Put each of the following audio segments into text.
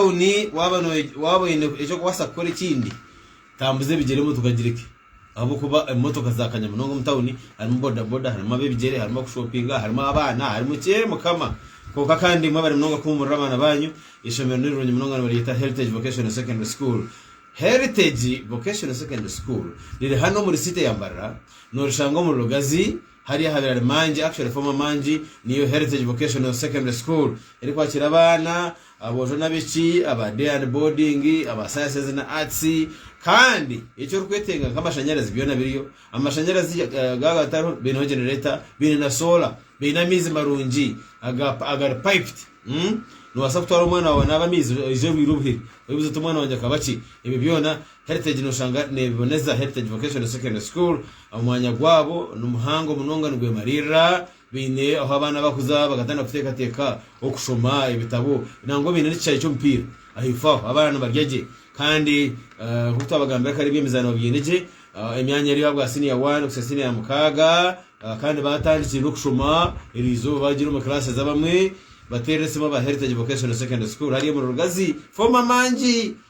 tawuni waaba waaba oine eki orikubaasa kukora ekindi tambuza ebigyere motoka agireke ahabw'okuba emotoka zaakanya munonga omu tawuni harimu bodaboda harimu ab'ebigyere harimu abakushoopinga harimu abaana harimu ki eeh mukama kwonka kandi imwe bari munonga kuhuumurira abaana baanyu eishomero nirirungi munonga nibaryeta Heritage Vocational Secondary School Heritage Vocational Secondary School riri hanu omuri siiti ya Mbarara noorishanga omuri Rugazi Hari ahabirari mangi, actually former mangi, niyo Heritage Vocational Secondary School erikwakira abaana, aboojo n'abaishiki, aba day and boarding, aba sciences na arts kandi eki orikwetenga nk'amashanyarazi byona biriyo. Amashanyarazi gaba gatariho baineho generator, baine na solar, baine amaizi marungi agari piped. Noobaasa kutwara omwana waawe anaabe amaizi oije oihiire obuhere, oibuuze oti omwana wangye akaba ki? Ebyo byona Heritage noshanga nebiboneza Heritage Vocational Secondary School omwanya gwabo nimuhango munonga nigwemaririra baine ahu abaana bakuza bakatandika kutekateka okushoma ebitabo nangwa baine nekishaayi kyomupiira ahaifo aho abaana nibarya gye kandi nkoku twabagambira kare ebyemizaano babyine gye emyanya eri ahabwa senior one kuhitsya senior ya mukaaga kandi batandikire nokushoma erizooba bagire omu classes abamwe baterire esimu aba Heritage Vocational Secondary School hariya omu Rugazi former mangi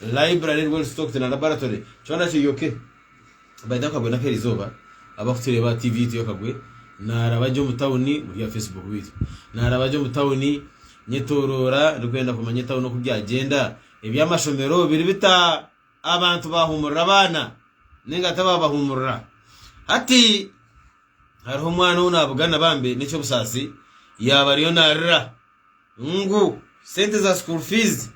Library, World Stock na Laboratory kyona kiri ok. By the way akagwe nakeri izooba abakutureeba TV yitu yakagwe naraba gye omu town murya aha Facebook beitu naraba gye omu town nyetoroora ndikwenda kumanya town oku byagyenda ebyamashomero biri bita abantu bahumurira abaana ninga tibabahumurira hati hariho omwana ou nabugana bambi nekyobusaasi yaba ariyo narira Ngu sente za school fees.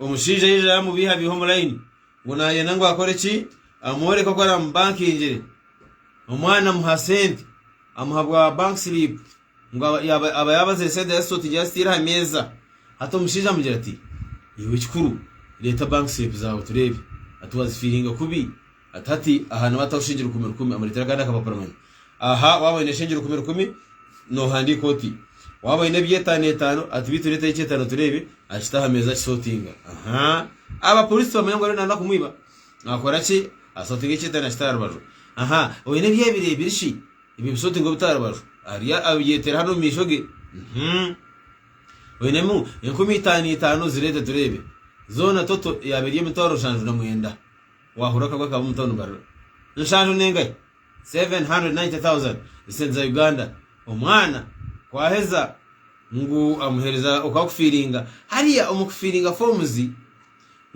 Omushaija yaija yamubihabiha omu line ngu nayenda ngu akore ki? Amworeke oku aramubankingire. Omwana amuha sente, amuha bwa bank slip ngu aba- yaba aba yabazire sente yazisotingira yaziteire aha meeza. Hati omushaija amugira ati, iwe ekikuru reeta bank slip zaawe tureebe. Ati wazifiiringa kubi? Ati hati aha niba ataho shingiro rukumi rukumi amureetera agandi akaba paramanya. Aha waaba oine shingiro rukumi rukumi noohandiika oti? Waaba oine eby'etaano etaano ati beitu reetayo eky'etaano tureebe akite aha meeza akisootinga. Aha aba pooriisi tibamanya ngu ariyo naanoba kumwiba. Akora ki? Asootinga eky'etaano akita aha rubaju. Aha oine eby'ebiri ebiri shi? Ebyo bisootinga obite aha rubaju. Ariyo abyeteera hanu omu maisho ge. Uhmm. Oinemu enkumi itaano itaano zireete tureebe. Zoona toto yaaba eri emitwaro nshanju na mwenda. Waahurira okagwa akaba omu tauni barura nshanju n'engahi 790,000 esente za Uganda omwana ku aheza ngu amuhereza okwa kufiiringa hariya omu kufiiringa forms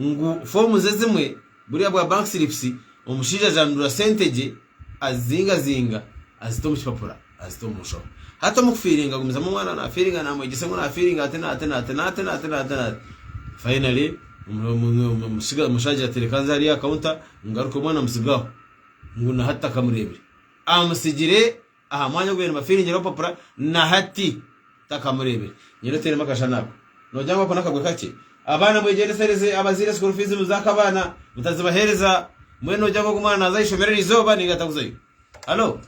ngu forms ezimwe buriya bwa bank slips omushaija ajandura sente gye Azizingazinga, azita omu kipapura, azita omu nshobe. Hati omu kufiiringa agumizamu omwana naafiiringa naamwegyesa ngu naafiiringa ati naati naati naati naati naati naati. Finally omushaija ati reka nze hariya aha counter ngaruke omwana amutsigaho ngu na hati takamureebire. Amutsigiire. Aha mwanya ogu babaire nibafiringire obupapura, na hati takamureebire. Nyowe oteiremu akashushani ako, noogira ngu ako n'akagwe kakye? Abaana mwegyendesereze abazaire school fees muziha ka baana, mutazibaheereza. Mbwenu noogira ngu ogu omwana naaza aha ishomero eri izooba nainga atakuzayo? Hallo!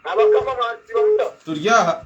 Abakama bansiiba muta? Turi aha.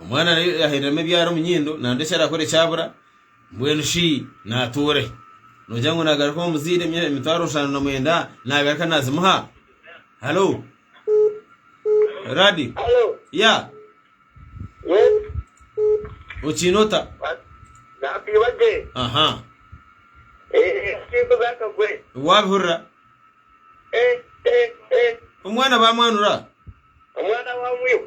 Omwana naye yahereramu ebyara omu nyindo nambwa eki arakore kyabura mbwenu shi natuure nogira ngu nagaruka omu muzaire emitwaro nshano na mwenda nagaruka nazimuha halo radi Hello. ya Yes. okiine ota Nakwiba gye. aha Eh, kintu zakagwe. wabihurira Eh, eh, eh. omwana bamwanura Omwana wa mwiba.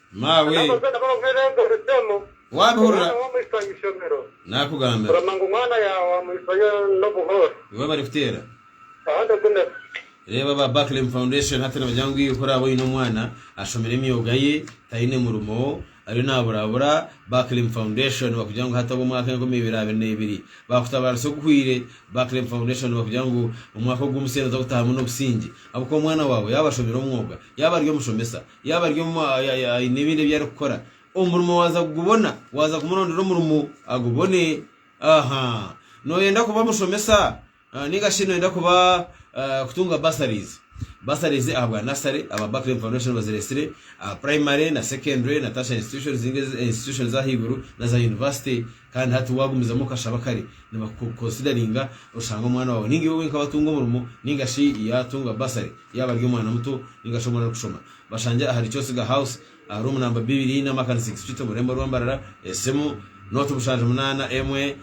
Maawe, waabihurira naakugambira, iwe abarikuteera. Reeba aba Barclaim Foundation hati nibagira ngu iwe oraaba oine omwana ashomire emyoga ye, taine murimo, ariyo naaburabura, Barclaim Foundation bakugira ngu hati ow'omwaka enkumi ibiri abiri na ibiri baakutabaarisa oguhwire. Barclaim Foundation bakugira ngu omwaka ogu omuseeri oza kutaahamu n'obusingye ahabw'okuba omwana waawe yaaba ashomire omwoga, yaaba ari omushomesa, Yaaba ari omwe aine ebindi ebi arikukora, omurimo waaza kugubona? Waaza kumurondera omurimo agubone? Aha! Nooyenda kuba mushomesa? Nainga shi nooyenda kuba kutunga bursaries? Bursaries ahabwa nasare, aba Barclay Foundation baziretsire, aha primary na secondary na tertiary institutions, institutions ez'ahaiguru na za university. Kandi hati waagumizamu okashaba kare nibakukonsidariinga oshanga omwana waawe nainga iwe wenka watunga omurimo nainga shi yaatunga bursary yaaba ari omwana muto nainga shi omwana arikushoma. Bashangye ahari Kyosiga House aha room namba bibiri na Makani Six Street omu rurembo rwa Mbarara. Esimu, Nought mushanju munaana emwe,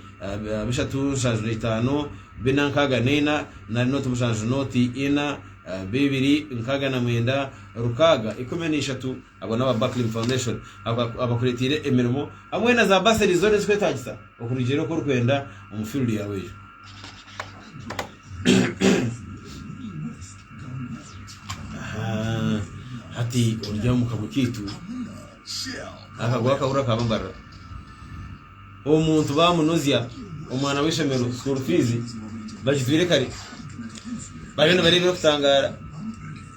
bishatu nshanju na itaano, bina nkaaga na ina, nari Nought mushanju Nought ina, bibiri nkaaga na mwenda, rukaaga ikumi na ishatu. Abo n'aba Buckling Foundation abakureeteire emirimo hamwe na za basari zoona ezikwetaagisa okurugiirira oku orikwenda omu field yaawe egyo. Hati ori omu kago kaitu akago aka buri akaaba mbarira omuntu baamunuzya omwana w'eishomero school fees bagijwire kare bariyo nibareeba erikutangaara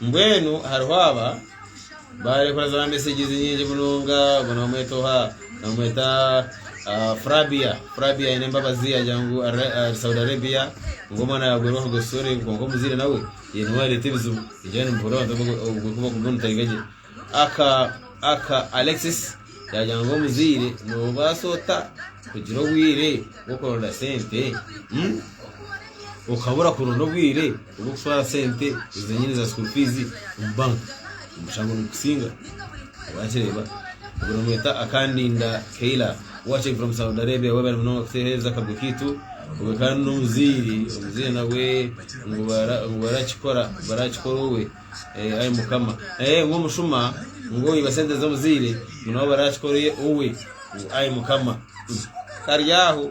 Mbwenu hariho aba barekora za messages nyingi munonga ogu nibamweta oha nibamweta frabia frabia aine embabazi yagira ngu ari saudi arabia ngu omwana yagwerwa kuruga esuri kwonka omuzaire nawe ye niwe areta ebizibu ningira nimuhurira abantu abarikuba nitahiga gye aka aka alexis yagira ngu omuzaire nobaasa ota kugira obwire bwokuronda sente ukabura kuronda obwire Obw'okutwara sente ezi enyine za school fees omu bank omushango nigukusinga wakireeba ogu nomweta Akandinda Kayla watching from Saudi Arabia webale munonga kutuhereza akargo kaitu ogwe kandi n'omuzaire omuzaire nawe ngu bara- ngu barakikora barakikora owe Eh, ai mukama Eh, ngu omushuma ngu oiba sente z'omuzaire ngu nabo barakikore owe ngu ai mukama Mm. kari aho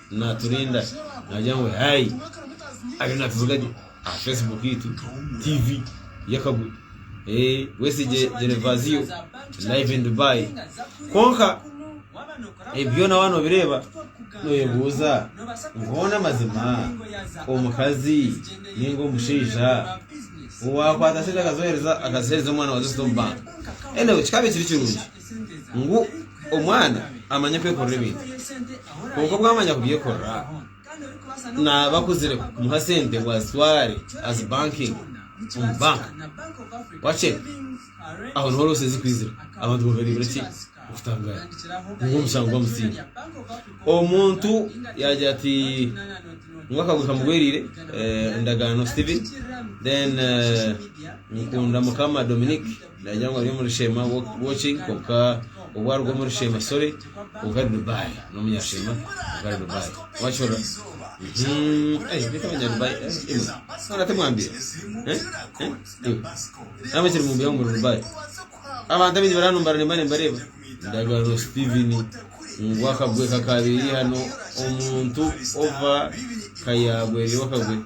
Naaturinda naagira ngu Hey! Ariyo naatuvuga gye aha Facebook yaitu, TV y'akaguru. Ee, Wesigye Gervasio, live in Dubai. Kwonka ebi byona waaba noobireeba nooyebuuza ngu hoona amazima omukazi nainga omushaija owaakwata sente akazimuheereza akaziheereza omwana wa Zesta omu banka? Anyway, kikaba ekiri kirungi. ngu omwana amanye kwekorera ebintu kwonka obu amanya kubyekorera naaba akuzire kumuha sente ngu azitware azi bankingi omu banka wakye aho niho roose zikwizira abantu baba nibagira ki okutangara ngu omushango bamutsiine omuntu yagira ati ngu akaguru kamugweriire eh, endagaano steven then eh, nkunda mukama dominic Nagira ngu ari omu Rushema Watching kwonka obu aruga omu Rushema sorry kwonka ari Dubai n'omunyasheema kwonka ari Dubai wakihurira Mhm, ei beitu abanyadubai eh, imwe nana timwambire Eh, eh, iwe namwe kiri mumbuya ngu muri Dubai abantu abaingi bari hano mbara nimba nimbareeba ndagano Steven ngu akagwe kakabiri hano omuntu ova kayagwerire wakagwe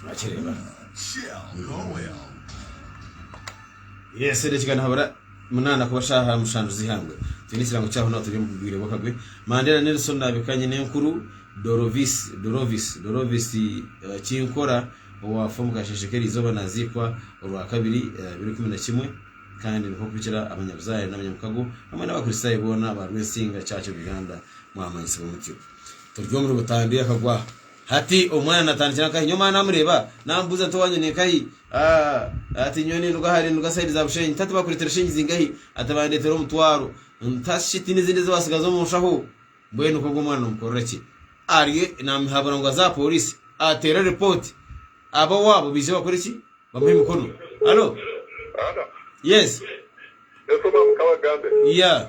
Nokireba. Yes, edakiika nihabura munana kuba shaha mushanju zihangwe. Twine ekirango kyaho naho turi omu bwire bw'akagwe. Mandera Nelson nabika nyina enkuru Dorovis, Dorovis, Dorovis eh, Kinkora owaafa omu kasheshe k'erizooba naziikwa Orwakabiri eh, abiri kumi na kimwe kandi nikwo kuhikira abanyabuzaare n'abanyamukago hamwe n'abakristaayo boona ba Rwensinga Church of Uganda mwamanyisibwa mutyo. Turi omuri Butandwe akagwa. Hati omwana natandikira nkahi? Nyowe mawe namureeba namubuuza nti owanyu ni nkahi? Aah Ati nyowe ninduga hare ninduga side za Bushenyi Nti hati bakureetere shilingi zingahi? Ati bandeetere omutwaro Nti hati shi tiine ezindi eziwatsigaza omu nshaho? Mbwenu nk'ogu omwana nomukorera ki? Arye namuhabura ngu aze aha poriisi ateere ripooti aba owaabo baije bakore ki? Bamuhe emikono. Hallo? Yes? Yeah.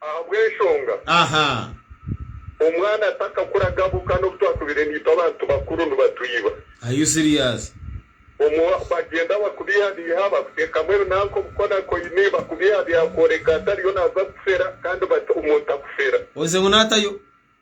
Ahabw'enshonga omwana atakakura agabuka n'obu twatubire naitwe abantu bakuru nibatwiba. Are you serious? Omu bagyenda bakubihabiiha, bakuteekamu ebinanka obukonakoini, bakubihabiiha kworeka ngu tariyo naaza kukufera kandi bati omuntu akufera. Oze ngu naatayo?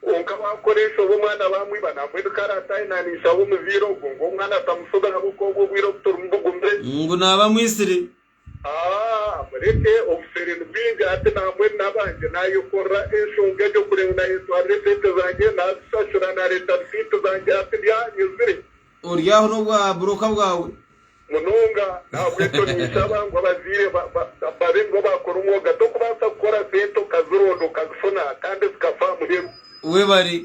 Kwonka waakukoreesa obwo omwana baamwiba nangwa ebi kare atayinaaniise aho omuzaire ogwo ngu omwana atamushube ahabw'okuba obwo obwire obu torimu bugumire. Ngu naaba Mwisiri. Aah, mureke, obuseere ni bwingi hati naamwe nabangye. Naayekorera enshonga egyo kureba ngu naayetwarira eseete zangye, naazishashura, naareeta risiiti zangye hati ndi aha nyezire. Ori aho n'obwa buroka bwawe. Munonga ahabw'enshoni nshaba ngu abazaire babe nibo baakora omwoga. Tokubaasa kukora sente okazironda okazifuna kandi zikafa aha muheru. Webare.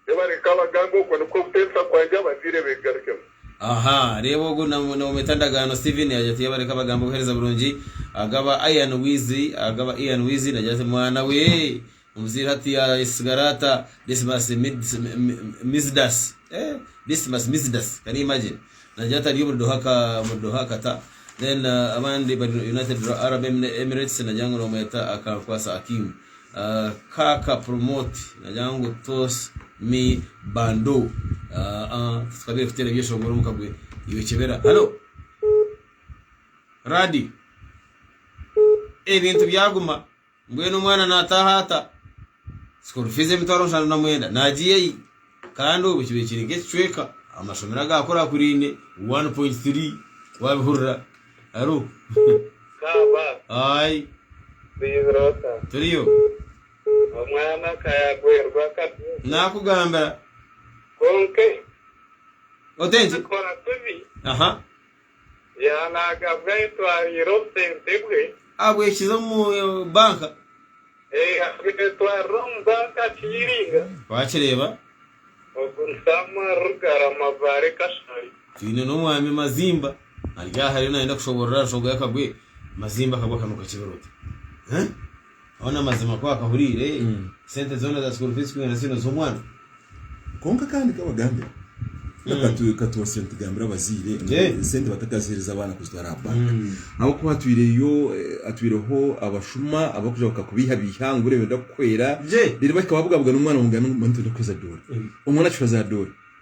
Webare Kabagambe okwo nikwo kuteebisa kwangye abazaire begarukemu. Aha reeba ogu nomweta Ndagaano Steven yagira ati Yebare Kabagambe obuhereza burungi agaba Ian Wizi agaba Ian Wizi nagira ati mwana wee Omuzaire ati, Yaasigara ata Decimus Mizidasi? Decimus Mizidasi, can you imagine? Naagira ati, Ari omuri Doha, omuri Doha, Qatar. Then abandi bari United Arab Emirates, naagira ngu noomweta Akankwasa Akim. Kaaka Promote, naagira ngu toss me Bandu. Titukabaire kuteera ebyeshongoro omu kagwe, iwe kyebera. Hallo! Radiyo! Ebintu byaguma. Mbwenu omwana naataaha ata school fees emitwaro mushanju na mwenda naagiiya yi? Kandi obwe kibaire kiri nk'ekicweka amashomero agaakurakuraine 1.3 waabihurira aro. Kaaba. Ayi. Oyehire ota? Turiyo. Omwana aka yaagwerwa akabya. Naakugambira. Kwonka. Ote nki? Kora kubi. Aha. Yaanagabwa etwariro obusente bwe. Abwekize omu banka. Abwetwarira omu banka Kiiringa. Wakireeba. Ogu ni Samuel Rugara Mabaare Kashari. Twine n'omwami Mazimba ari aha ariyo nayenda kushoborora Nshogoya Kagwe. Mazimba Kagwe akanuka kibiroti. Hoona mazima ku akahuriire sente zoona za school fees kugenda ziine z'omwana. Kwonka kandi nkabagambira ngu katwosye nitugambira abazaire ngu esente batakazihereza abaana kuzitwara aha bank ahabw'okuba hatwireho abashuma abarikugira ngu kakubaihaiha ngu buriya noyenda kuhwera reero bahika babugabuga n'omwana ngu ngu nibaija kuhweza doora. Omwana akihweza doora.